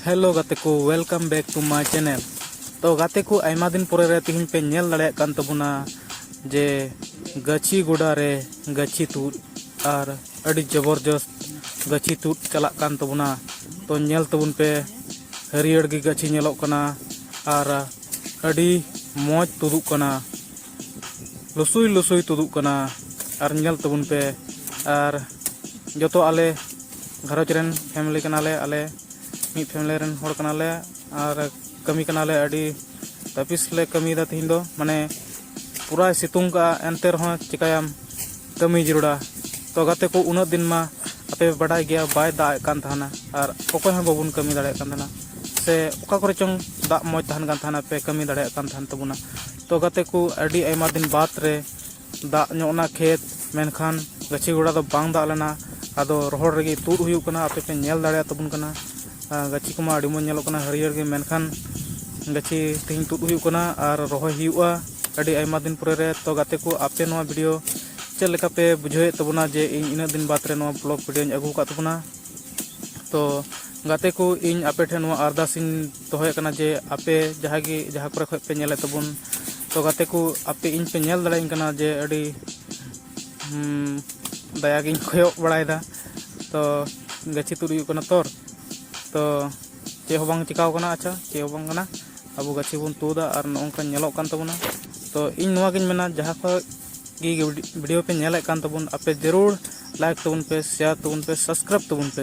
hello ᱜᱟᱛᱮ ᱠᱚ welcome back to my channel ᱛᱚ ᱜᱟᱛᱮ ᱠᱚ ᱟᱭᱢᱟ ᱫᱤᱱ ᱯᱚᱨᱮ ᱨᱮ ᱛᱮᱦᱮᱧ ᱯᱮ ᱧᱮᱞ ᱫᱟᱲᱮᱭᱟᱜ ᱠᱟᱱ ᱛᱟᱵᱚᱱᱟ ᱡᱮ ᱜᱟᱹᱪᱷᱤ ᱜᱚᱰᱟ ᱨᱮ ᱜᱟᱹᱪᱷᱤ ᱛᱩᱫ ᱟᱨ ᱟᱹᱰᱤ ᱡᱚᱵᱚᱨᱡᱚᱥᱛ ᱜᱟᱹᱪᱷᱤ ᱛᱩᱫ ᱪᱟᱞᱟᱜ ᱠᱟᱱ ᱛᱟᱵᱚᱱᱟ ᱛᱚ ᱧᱮᱞ ᱛᱟᱵᱚᱱ ᱯᱮ ᱦᱟᱹᱨᱭᱟᱹᱲ ᱜᱮ ᱜᱟᱹᱪᱷᱤ ᱧᱮᱞᱚᱜ ᱠᱟᱱᱟ ᱟᱨ ᱟᱹᱰᱤ ᱢᱚᱡᱽ ᱛᱩᱫᱩᱜ ᱠᱟᱱᱟ ᱞᱩᱥᱩᱭ ᱞᱩᱥᱩᱭ ᱛᱩᱫᱩᱜ ᱠᱟᱱᱟ ᱟᱨ ᱧᱮᱞ ᱛᱟᱵᱚᱱ ᱯᱮ ᱟᱨ ᱡᱚᱛᱚ ᱟᱞᱮ ᱜᱷᱟᱨᱚᱸᱡᱽ ᱨᱮᱱ ᱯᱷᱮᱢᱮᱞᱤ ᱠᱟᱱᱟᱞᱮ ᱟᱞᱮ ᱢᱤᱫ ᱯᱷᱮᱢᱮᱞᱤ ᱨᱮᱱ ᱦᱚᱲ ᱠᱟᱱᱟᱞᱮ ᱟᱨ ᱠᱟᱹᱢᱤ ᱠᱟᱱᱟᱞᱮ ᱟᱹᱰᱤ ᱛᱟᱹᱯᱤᱥ ᱞᱮ ᱠᱟᱹᱢᱤᱭᱮᱫᱟ ᱛᱤᱦᱤᱧ ᱫᱚ ᱢᱟᱱᱮ ᱯᱩᱨᱟᱭ ᱥᱤᱛᱩᱝ ᱠᱟᱜᱼᱟ ᱮᱱᱛᱮ ᱨᱮᱦᱚᱸ ᱪᱤᱠᱟᱹᱭᱟᱢ ᱠᱟᱹᱢᱤ ᱡᱟᱹᱨᱩᱲᱟ ᱛᱚ ᱜᱟᱛᱮ ᱠᱚ ᱩᱱᱟᱹᱜ ᱫᱤᱱ ᱢᱟ ᱟᱯᱮ ᱵᱟᱰᱟᱭ ᱜᱮᱭᱟ ᱵᱟᱭ ᱫᱟᱜ ᱮᱫ ᱠᱟᱱ ᱛᱟᱦᱮᱱᱟ ᱟᱨ ᱚᱠᱚᱭ ᱦᱚᱸ ᱵᱟᱵᱚᱱ ᱠᱟᱹᱢᱤ ᱫᱟᱲᱮᱭᱟᱜ ᱠᱟᱱ ᱛᱟᱦᱮᱱᱟ ᱥᱮ ᱚᱠᱟ ᱠᱚᱨᱮ ᱪᱚᱝ ᱫᱟᱜ ᱢᱚᱡᱽ ᱛᱟᱦᱮᱱ ᱠᱟᱱ ᱛᱟᱦᱮᱱᱟ ᱯᱮ ᱠᱟᱹᱢᱤ ᱫᱟᱲᱮᱭᱟᱜ ᱠᱟᱱ ᱛᱟᱦᱮᱱ ᱛᱟᱵᱚᱱᱟ ᱛᱚ ᱜᱟᱛᱮ ᱠᱚ ᱟᱹᱰᱤ ᱟᱭᱢᱟ ᱫᱤᱱ ᱵᱟᱫᱽ ᱨᱮ ᱫᱟᱜ ᱧᱚᱜ ᱮᱱᱟ ᱠᱷᱮᱛ ᱢᱮᱱᱠᱷᱟᱱ ᱜᱟᱹᱪᱷᱤ ᱜᱚᱰᱟ ᱫᱚ ᱵᱟᱝ ᱫᱟᱜ ᱞᱮᱱᱟ ᱟᱫᱚ ᱨᱚᱦᱚᱲ ᱨᱮᱜᱮ ᱛᱩᱫ ᱦᱩᱭᱩᱜ ᱠᱟᱱᱟ ᱟᱯᱮ ᱯᱮ ᱧᱮᱞ ᱫᱟᱲᱮᱭᱟ ᱛᱟᱵᱚᱱ ᱠᱟᱱᱟ ᱜᱟᱹᱪᱷᱤ ᱠᱚᱢᱟ ᱟᱹᱰᱤ ᱢᱚᱡᱽ ᱧᱮᱞᱚᱜ ᱠᱟᱱᱟ ᱦᱟᱹᱨᱭᱟᱹᱲ ᱜᱮ ᱢᱮᱱᱠᱷᱟᱱ ᱜᱟᱹᱪᱷᱤ ᱛᱮᱦᱮᱧ ᱛᱩᱫ ᱦᱩᱭᱩᱜ ᱠᱟᱱᱟ ᱟᱨ ᱨᱚᱦᱚᱭ ᱦᱩᱭᱩᱜᱼᱟ ᱟᱹᱰᱤ ᱟᱭᱢᱟ ᱫᱤᱱ ᱯᱚᱨᱮ ᱨᱮ ᱛᱚ ᱜᱟᱛᱮ ᱠᱚ ᱟᱯᱮ ᱱᱚᱣᱟ ᱵᱷᱤᱰᱤᱭᱳ ᱪᱮᱫ ᱞᱮᱠᱟ ᱯᱮ ᱵᱩᱡᱷᱟᱹᱣᱮᱫ ᱛᱟᱵᱚᱱᱟ ᱡᱮ ᱤᱧ ᱤᱱᱟᱹᱜ ᱫᱤᱱ ᱵᱟᱫᱽ ᱨᱮ ᱱᱚᱣᱟ ᱵᱞᱚᱜᱽ ᱵᱷᱤᱰᱤᱭᱳᱧ ᱟᱹᱜᱩ ᱟᱠᱟᱫ ᱛᱟᱵᱚᱱᱟ ᱛᱚ ᱜᱟᱛᱮ ᱠᱚ ᱤᱧ ᱟᱯᱮ ᱴᱷᱮᱱ ᱱᱚᱣᱟ ᱟᱨᱫᱟᱥ ᱤᱧ ᱫᱚᱦᱚᱭᱮᱫ ᱠᱟᱱᱟ ᱡᱮ ᱟᱯᱮ ᱡᱟᱦᱟᱸᱭ ᱜᱮ ᱡᱟᱦᱟᱸ ᱠᱚᱨᱮ ᱠᱷᱚᱱ ᱯᱮ ᱧᱮᱞᱮᱫ ᱛᱟᱵᱚᱱ ᱛᱚ ᱜᱟᱛᱮ ᱠᱚ ᱟᱯᱮ ᱤᱧ ᱯᱮ ᱧᱮᱞ ᱫᱟᱲᱮᱭᱟᱹᱧ ᱠᱟᱱᱟ ᱡᱮ ᱟᱹᱰᱤ ᱫᱟᱭᱟᱜᱤᱧ ᱠᱚᱭᱚᱜ ᱵᱟᱲᱟᱭᱮᱫᱟ ᱛᱚ ᱜᱟᱹᱪᱷᱤ ᱛᱩᱫ ᱦᱩᱭᱩᱜ ᱠᱟᱱᱟ ᱛᱚᱨ ᱛᱚ ᱪᱮᱫ ᱦᱚᱸ ᱵᱟᱝ ᱪᱤᱠᱟᱹᱣ ᱠᱟᱱᱟ ᱟᱪᱪᱷᱟ ᱪᱮᱫ ᱦᱚᱸ ᱵᱟᱝ ᱠᱟᱱᱟ ᱟᱵᱚ ᱜᱟᱹᱪᱷᱤ ᱵᱚᱱ ᱛᱩᱫᱟ ᱟᱨ ᱱᱚᱝᱠᱟ ᱧᱮᱞᱚᱜ ᱠᱟᱱ ᱛᱟᱵᱚᱱᱟ ᱛᱚ ᱤᱧ ᱱᱚᱣᱟᱜᱤᱧ ᱢᱮᱱᱟ ᱡᱟᱦᱟᱸ ᱠᱷᱚᱱ ᱜᱮ ᱵᱷᱤᱰᱤᱭᱳ ᱯᱮ ᱧᱮᱞᱮᱫ ᱠᱟᱱ ᱛᱟᱵᱚᱱ ᱟᱯᱮ ᱡᱟᱹᱨᱩᱲ ᱞᱟᱭᱤᱠ ᱛᱟᱵᱚᱱ ᱯᱮ ᱥᱮᱭᱟᱨ ᱛᱟᱵᱚᱱ ᱯᱮ ᱥᱟᱵᱥᱠᱨᱟᱭᱤᱵᱽ ᱛᱟᱵᱚᱱ ᱯᱮ